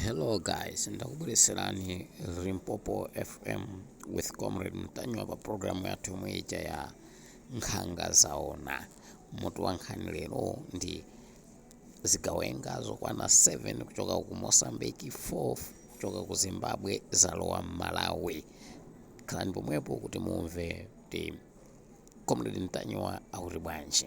Hello guys, ndakubweretserani Limpopo FM with Comrade Ntanyiwa pa programu yathu yomwe ija ya nkhanga zaona. Mutu wa nkhani lero ndi zigawenga zokwana 7 kuchoka ku Mozambique, 4 kuchoka ku Zimbabwe zalowa m'Malawi. Khalani pomwepo kuti mumve kuti Comrade Ntanyiwa akuti bwanji.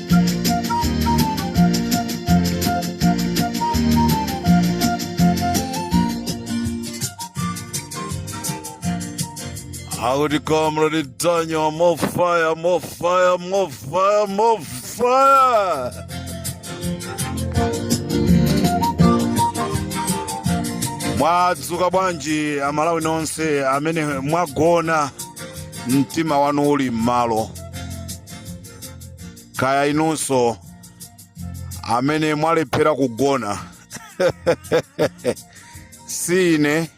Howdy, Comrade Ntanyiwa. More fire, more fire, more fire, more fire. mwadzuka bwanji amalawi nonse amene mwagona mtima wanu uli m'malo kaya inunso amene mwalephera kugona si ine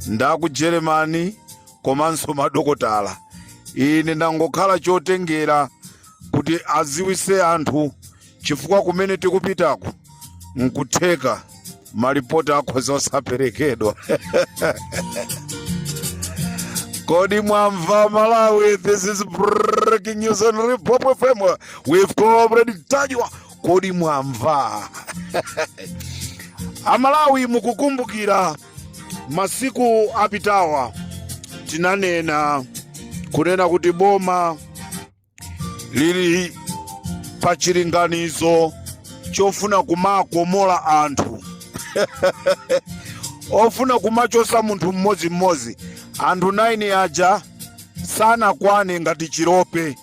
nda ku Germany komanso madokotala ine ndangokhala chotengera kuti adziwitse anthu chifukwa kumene tikupitako nkutheka malipoti akhoza osaperekedwa Kodi Mwamva Malawi, this is breaking news on Limpopo FM with Comrade Ntanyiwa. Kodi Mwamva. Amalawi mukukumbukira masiku apitawa tinanena kunena kuti boma lili pa chilinganizo chofuna kumakomola anthu kufuna kumachosa munthu mmodzimmodzi anthu 9 aja sanakwane ngati chilope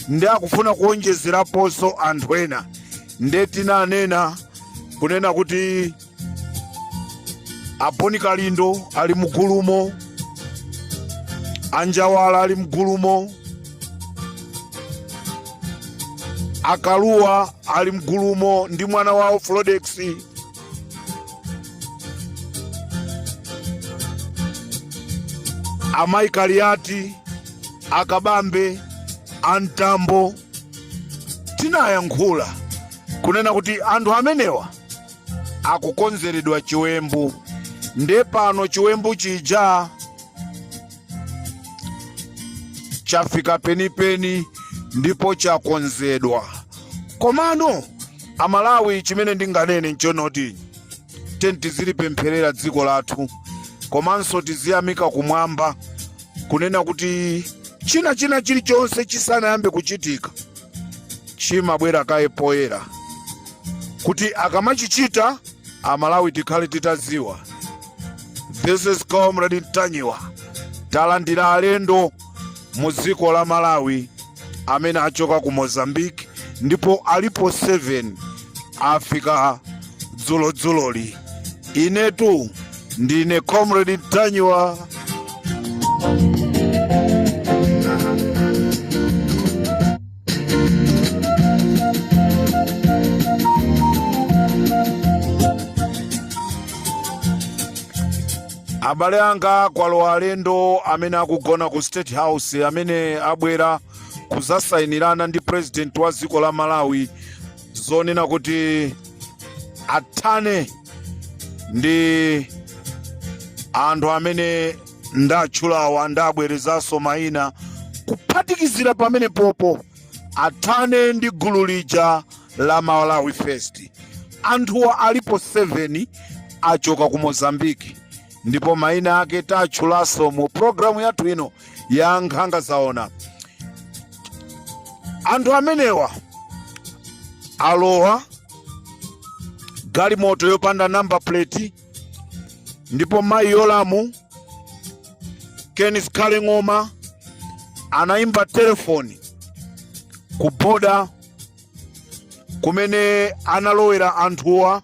ndi akufuna kuonjezeraponso anthu ena nde tinanena kunena kuti a Bon Kalindo ali mugulumo a Njawala ali mugulumo a Kalua ali mgulumo ndi mwana wawo Fredokiss amayi Kaliati a Kabambe a Mtambo tinayankhula kunena kuti anthu amenewa akukonzeredwa chiwembu nde pano chiwembu chija chafika penipeni ndipo chakonzedwa komano amalawi chimene ndinganene nchonoti tizilipempherera dziko lathu komanso tiziyamika kumwamba kunena kuti china china chilichonse chisanayambe kuchitika chimabwera kaye poyera kuti akamachichita amalawi tikhale titaziwa this is comrade ntanyiwa talandira alendo mu dziko la malawi amene achoka ku mozambique ndipo alipo 7 afika dzulo dzuloli inetu ndine comrade ntanyiwa abale anga kwalowa alendo amene akugona ku state house amene abwera kuzasainirana ndi president wa dziko la malawi zonena kuti athane ndi anthu amene ndatchulawa ndabwerezanso mayina kuphatikizira pamenepopo athane ndi gulu lija la malawi first anthuwa alipo 7 achoka ku mozambiki ndipo maina ake tatchulaso mu programu yathu ino ya nkhanga zaona anthu amenewa alowa galimoto yopanda namba plate ndipo mayi yolamu ken zikhale ng'oma anayimba telefoni ku boda kumene analowera anthuwa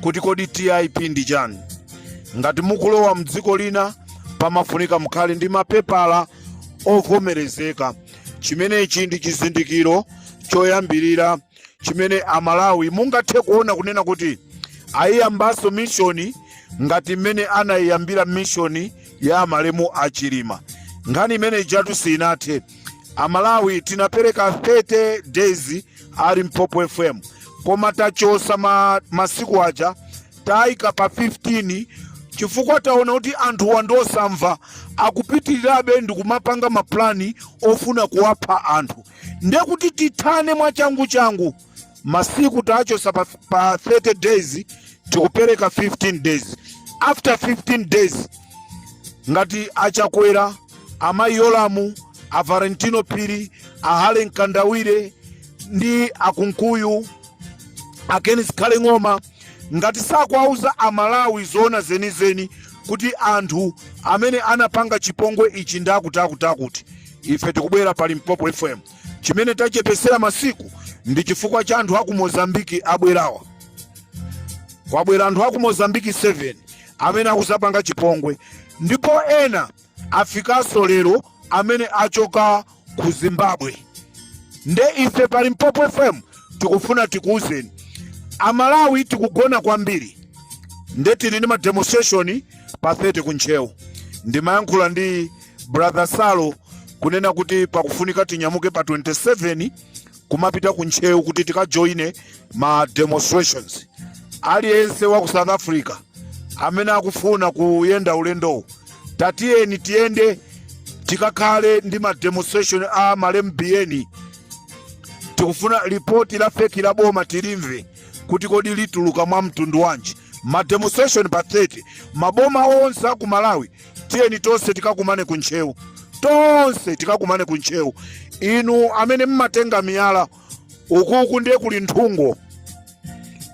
kuti kodi TIP ndi chani. Ngati mukulowa mdziko lina pamafunika mukhale ndi mapepala ovomerezeka. Chimenechi ndi chizindikiro choyambirira chimene Amalawi mungathe kuona kunena kuti ayiyambanso mishoni ngati mmene anayiyambira mishoni ya amalemu a Chilima. Nkhani imene ijatu sinathe. Amalawi tinapereka 30 days a limpopo fm koma tachosa ma, masiku aja tayika pa 15 chifukwa taona kuti anthuwa ndi osamva akupitirirabe ndi kumapanga mapulani ofuna kuwapha anthu nde kuti tithane mwachanguchangu masiku tachosa pa, pa 30 days tikupereka 15 days after 15 days ngati a chakwera amayi yolamu a valentino phiri a harry mkandawire ndi a kunkuyu a ken zikhale ng'oma ngati sakuwauza amalawi zoona zenizeni kuti anthu amene anapanga chipongwe ichi ndi akuti akuti akuti ife tikubwera pa limpopo fm chimene tachepesera masiku ndi chifukwa cha anthu aku mozambiki abwerawa kwabwera anthu aku mozambiki 7 amene akuzapanga chipongwe ndipo ena afikanso lero amene achoka ku Zimbabwe nde ife pa Limpopo FM tikufuna tikuuzeni amalawi tikugona kwambiri nde tili ndi mademonstration pa 30 ku Ntcheu ndimayankhula ndi brother Saulo kunena kuti pakufunika tinyamuke pa 27 kumapita ku ntcheu kuti tikajoine ma demonstrations aliyense wa ku south africa amene akufuna kuyenda ulendowu tatiyeni tiyende tikakhale ndi ma demonstration a malemu Biyeni tikufuna lipoti la fake la boma tilimve kuti kodi lituluka mwa mtundu wanji ma demonstration pa 30 maboma onse aku Malawi tiyeni tonse tikakumane ku Ntcheu tonse tikakumane ku Ntcheu inu amene mmatenga miyala ukuku ndiye kuli nthungo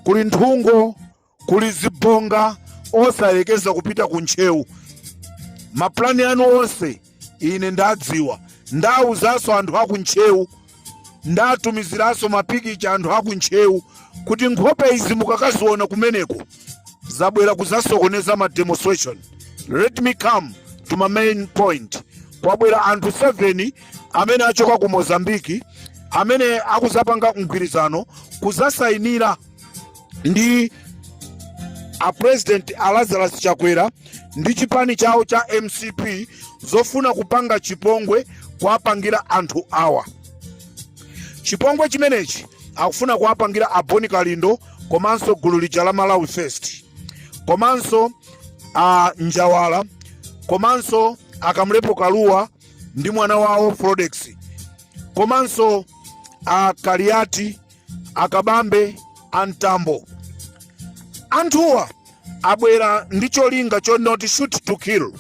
kuli nthungo kuli zibonga osayekeza kupita ku Ntcheu maplani anu onse ine ndadziwa ndawuzanso anthu aku ntcheu ndatumiziranso mapikicha anthu aku ntcheu kuti nkhope izi mukakaziona kumeneko zabwera kuzasokoneza ma demonstration let me come to my main point kwabwera anthu 7 amene achoka ku mozambiki amene akuzapanga mgwirizano kuzasayinira ndi a president a Lazarus Chakwera ndi chipani chawo cha MCP zofuna kupanga chipongwe kuwapangira anthu awa. Chipongwe chimenechi akufuna kuwapangira a Bon Kalindo komanso gulu lija la Malawi First komanso a Njawala komanso akamlepo Kalua ndi mwana wawo Frodex komanso a Kaliati a Kabambe a mtambo anthuwa abwera ndi cholinga choti shoot to kill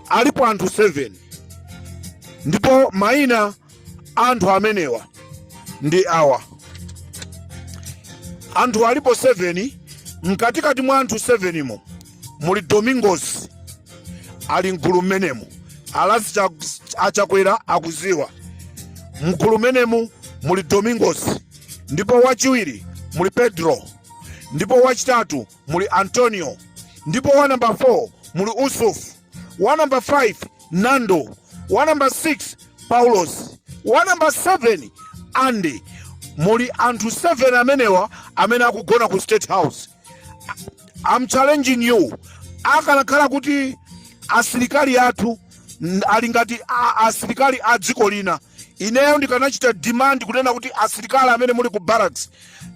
alipo anthu 7 ndipo maina a anthu amenewa ndi awa anthu alipo 7 mkatikati mwa anthu 7 mo muli domingos ali mgulu mmenemu a Lazi a Chakwera akuziwa mgulu mmenemu muli domingos ndipo wachiwiri muli pedro ndipo wachitatu muli antonio ndipo wa namba 4 muli Yusuf wa namba 5 nando wa namba 6 paulos wa namba 7 andi muli anthu 7 amenewa amene akugona ku state house I'm challenging you akanakhala kuti asilikali athu n- ali ngati a- asilikali a dziko lina ineyo ndikanachita demand kunena kuti asilikali amene muli ku barracks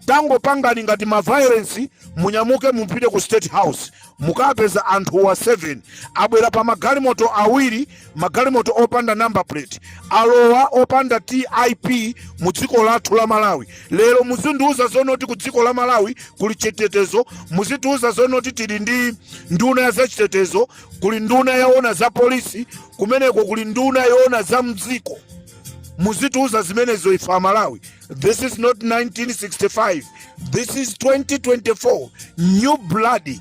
tangopangani ngati ma violence munyamuke mupite ku state house mukapeza anthuwa 7 abwera pa magalimoto awiri magalimoto opanda number plate alowa opanda tip mu dziko lathu la malawi lero muzindiuza zonoti ku dziko la malawi kuli chitetezo muzitiuza zonoti tili ndi nduna ya zachitetezo kuli nduna yoona za polisi kumeneko kuli nduna yoona za mdziko muzitiuza zimenezo ife amalawi this is not 1965 this is 2024 new blood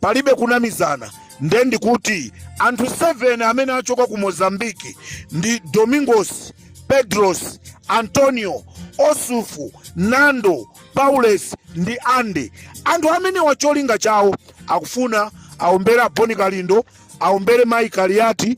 palibe kunamizana nde ndikuti anthu 7 amene achoka ku mozambiki ndi domingos pedros antonio osufu nando paules ndi ande anthu amenewa cholinga chawo akufuna aombere a Bon Kalindo aombere mayi Kaliati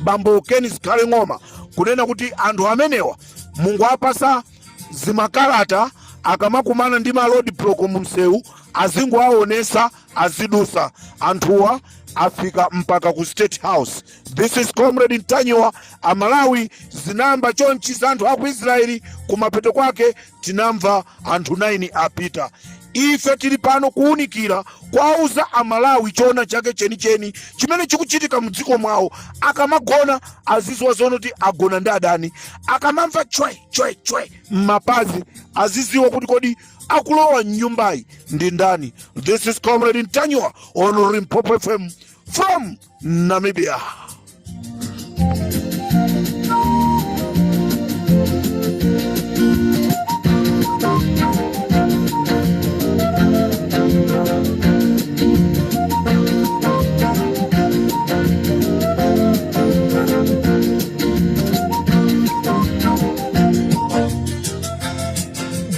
bambo Ken Zikhale ng'oma kunena kuti anthu amenewa mungowapasa zimakalata akamakumana ndi ma road block mu msewu azingowaonesa azidusa anthuwa afika mpaka ku state house this is comrade ntanyiwa amalawi zinayamba chonchi za anthu a ku israeli kumapeto kwake tinamva anthu 9 apita ife tili pano kuwunikira kwauza amalawi choona chake chenicheni chimene chikuchitika mdziko mwawo akamagona aziziwa zonoti agona ndi adani akamamva chwe chwe chwe mmapazi aziziwa kuti kodi akulowa mnyumbayi ndi ndani this is comrade Ntanyiwa on Limpopo fm from Namibia.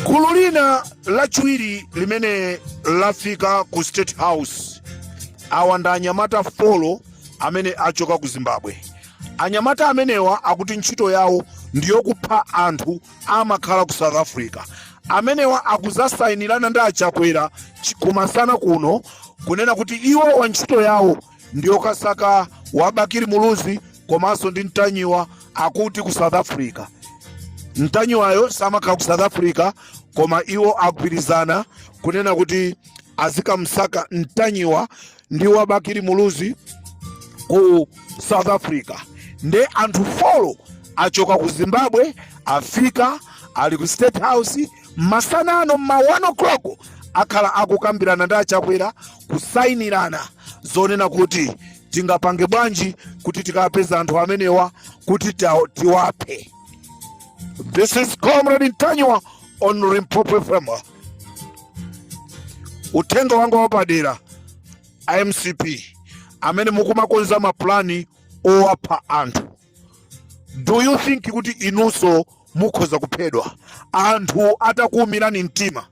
gulu lina lachiwiri limene lafika ku state house Awa ndi anyamata folo amene achoka ku Zimbabwe. Anyamata amenewa akuti ntchito yawo ndiyokupha anthu amakhala ku South Africa. Amenewa akuzasayinirana ndi a Chakwera kumasana kuno kunena kuti iwowa ntchito yawo ndiyokasaka wa Bakili Muluzi komanso ndi Ntanyiwa akuti ku South Africa. Ntanyiwayo samakhala ku South Africa koma iwo agwirizana kunena kuti azikamsaka ntanyiwa ndi wa bakili muluzi ku south africa nde anthu folo achoka ku zimbabwe afika ali ku state house masanano ma 1 o'clock akhala akukambirana ndi achakwera kusayinirana zonena kuti tingapange bwanji kuti tikapeza anthu amenewa kuti tiwaphe this is comrade ntanyiwa on limpopo fm uthenga wanga wapadera a mcp amene mukumakonza mapulani owapha anthu do you think kuti inunso mukhoza kuphedwa anthu atakuumirani mtima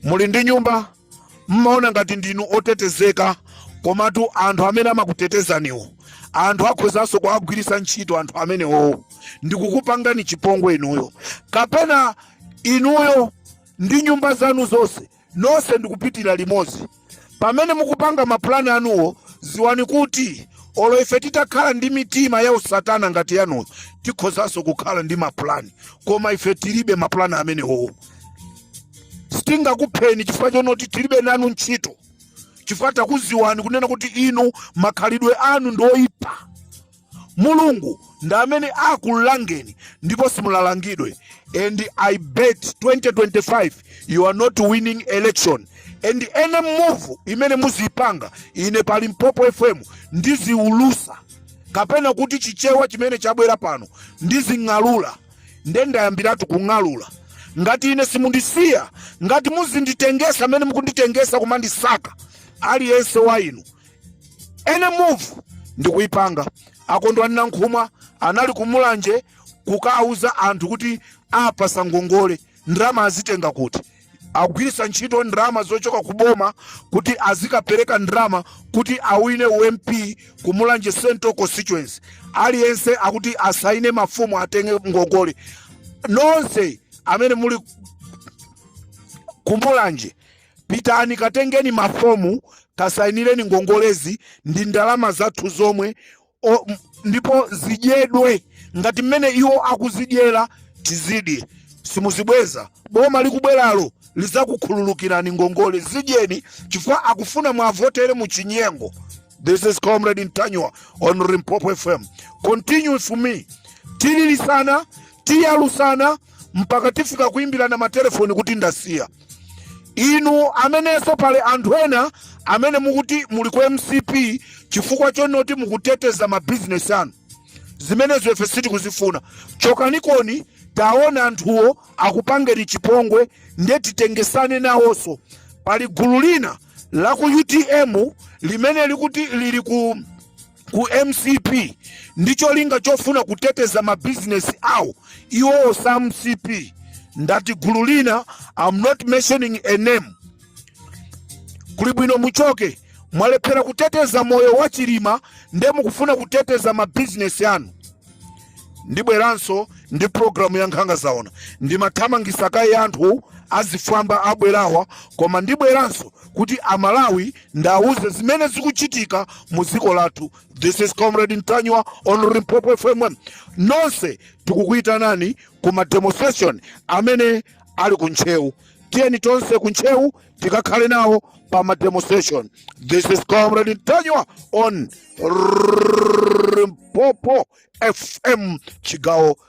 muli ndi nyumba mmaona ngati ndinu otetezeka komatu anthu amene amakutetezaniwo anthu akhozanso kuwagwiritsa ntchito anthu amenewowo ndikukupangani chipongwe inuyo kapena inuyo ndi nyumba zanu zonse nonse ndikupitira limodzi pamene mukupanga mapulani anuwo ziwani kuti olo ife titakhala ndi mitima ya usatana ngati yanuyo tikhozanso kukhala ndi mapulani koma ife tilibe mapulani amenewowo sitingakupheni chifukwa chonoti tilibe nanu ntchito chifukwa takuziwani kunena kuti inu makhalidwe anu ndi oyipa mulungu ndi amene akulangeni ndipo simulalangidwe and i bet 2025 you are not winning election and any move imene muziyipanga ine pa limpopo fm ndiziulusa kapena kuti chichewa chimene chabwera pano ndizing'alula nde ndayambiratu kung'alula ngati ine simundisiya ngati muzinditengesa amene mukunditengesa kumandisaka aliyense wa inu any move ndikuipanga akondwa nankhumwa anali kumulanje kukauza anthu kuti awapasa ngongole ndalama azitenga kuti agwirisa ntchito ndalama zochoka ku boma kuti azikapereka ndalama kuti awine u mp kumulanje central constituency aliyense akuti asaine mafomu atenge ngongole nonse amene muli kumulanje Pitani katengeni mafomu kasainireni ngongolezi ndi ndalama zathu zomwe ndipo zidyedwe ngati mmene iwo akuzidyera tizidye simuzibweza boma likubweralo lizakukhululukirani ngongole zidyeni chifukwa akufuna mwavotere mu chinyengo this is comrade ntanyiwa on limpopo fm continue for me tilirisana tiyalusana mpaka tifika kuimbirana matelefoni kuti ndasiya inu amenenso pali anthu ena amene mukuti muli ku mcp chifukwa chonoti mukuteteza mabizinesi anu zimenezo ife sitikuzifuna chokanikoni taona anthuwo akupangeni chipongwe ndiye titengesane nawonso pali gulu lina la ku utm limene likuti lili ku ku mcp ndi cholinga chofuna kuteteza mabizinesi awo iwowo sa mcp ndati gulu lina I'm not mentioning a name kuli bwino muchoke mwalephera kuteteza moyo wa chilima nde mukufuna kuteteza mabizinesi anu ndibweranso ndi programu ya nkhanga zaona ndimathamangisa kaye anthu azifwamba abwerawa koma ndibweranso kuti amalawi ndauze zimene zikuchitika mu dziko lathu this is comrade ntanyiwa on limpopo fm nonse tikukuyitanani ku ma demonstration amene ali ku ntcheu tiyeni tonse ku ntcheu tikakhale nawo pa ma demonstration this is comrade ntanyiwa on limpopo fm chigawo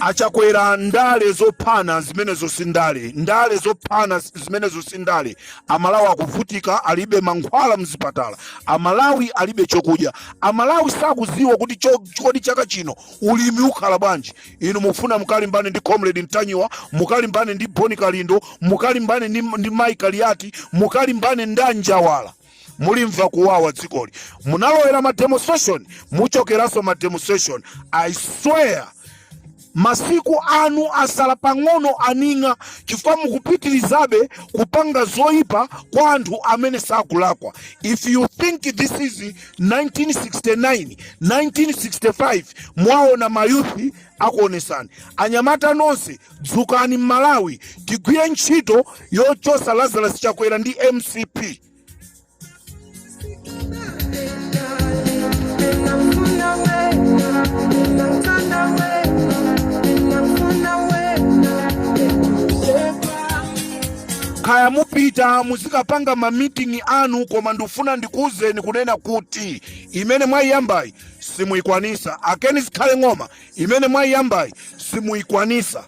achakwera ndale zophana zimenezo si ndale ndale zophana zimenezo si ndale amalawi akuvutika alibe mankhwala mzipatala amalawi alibe chokudya amalawi sakuziwa kuti cho- kodi chaka chino ulimi ukhala bwanji inu mufuna mukalimbane ndi comrade ntanyiwa mukalimbane ndi bon kalindo mukalimbane ndi mai kaliati mukalimbane ndi anjawala mulimva kuwawa dzikoli munalowera ma demonstration muchokeranso ma demonstration i swear masiku anu asala pang'ono aning'a chifukwa mukupitirizabe kupanga zoyipa kwa anthu amene sakulakwa if you think this is 1969 1965 mwaona mayuthi akuonesani anyamata nonse dzukani mmalawi tigwire ntchito yochosa lazarus chakwera ndi mcp kaya mupita muzikapanga mamitingi anu koma ndifuna ndikuwuzeni kunena kuti imene mwayiyambayi simuikwanisa a ken zikhale ng'oma imene mwaiyambayi simuikwanisa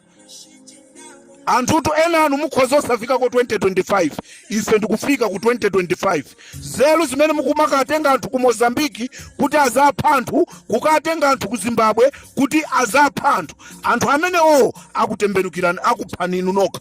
anthutu ena anu mukhoza osafika ku 2025 ife ndikufika ku 2025 nzelu zimene mukumakatenga anthu ku mozambiki kuti azapha anthu kukatenga anthu ku zimbabwe kuti azapha anthu anthu amenewo akutembenukirani akuphani inu nokha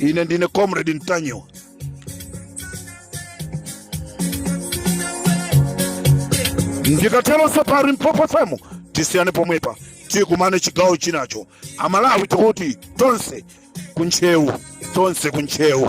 ine ndine comrade ntanyiwa ndikatelonso pa limpopo fm tisiyane pomwepa tikumane chigawo chinacho amalawi tikuti tonse kuntchewu tonse kuntchewu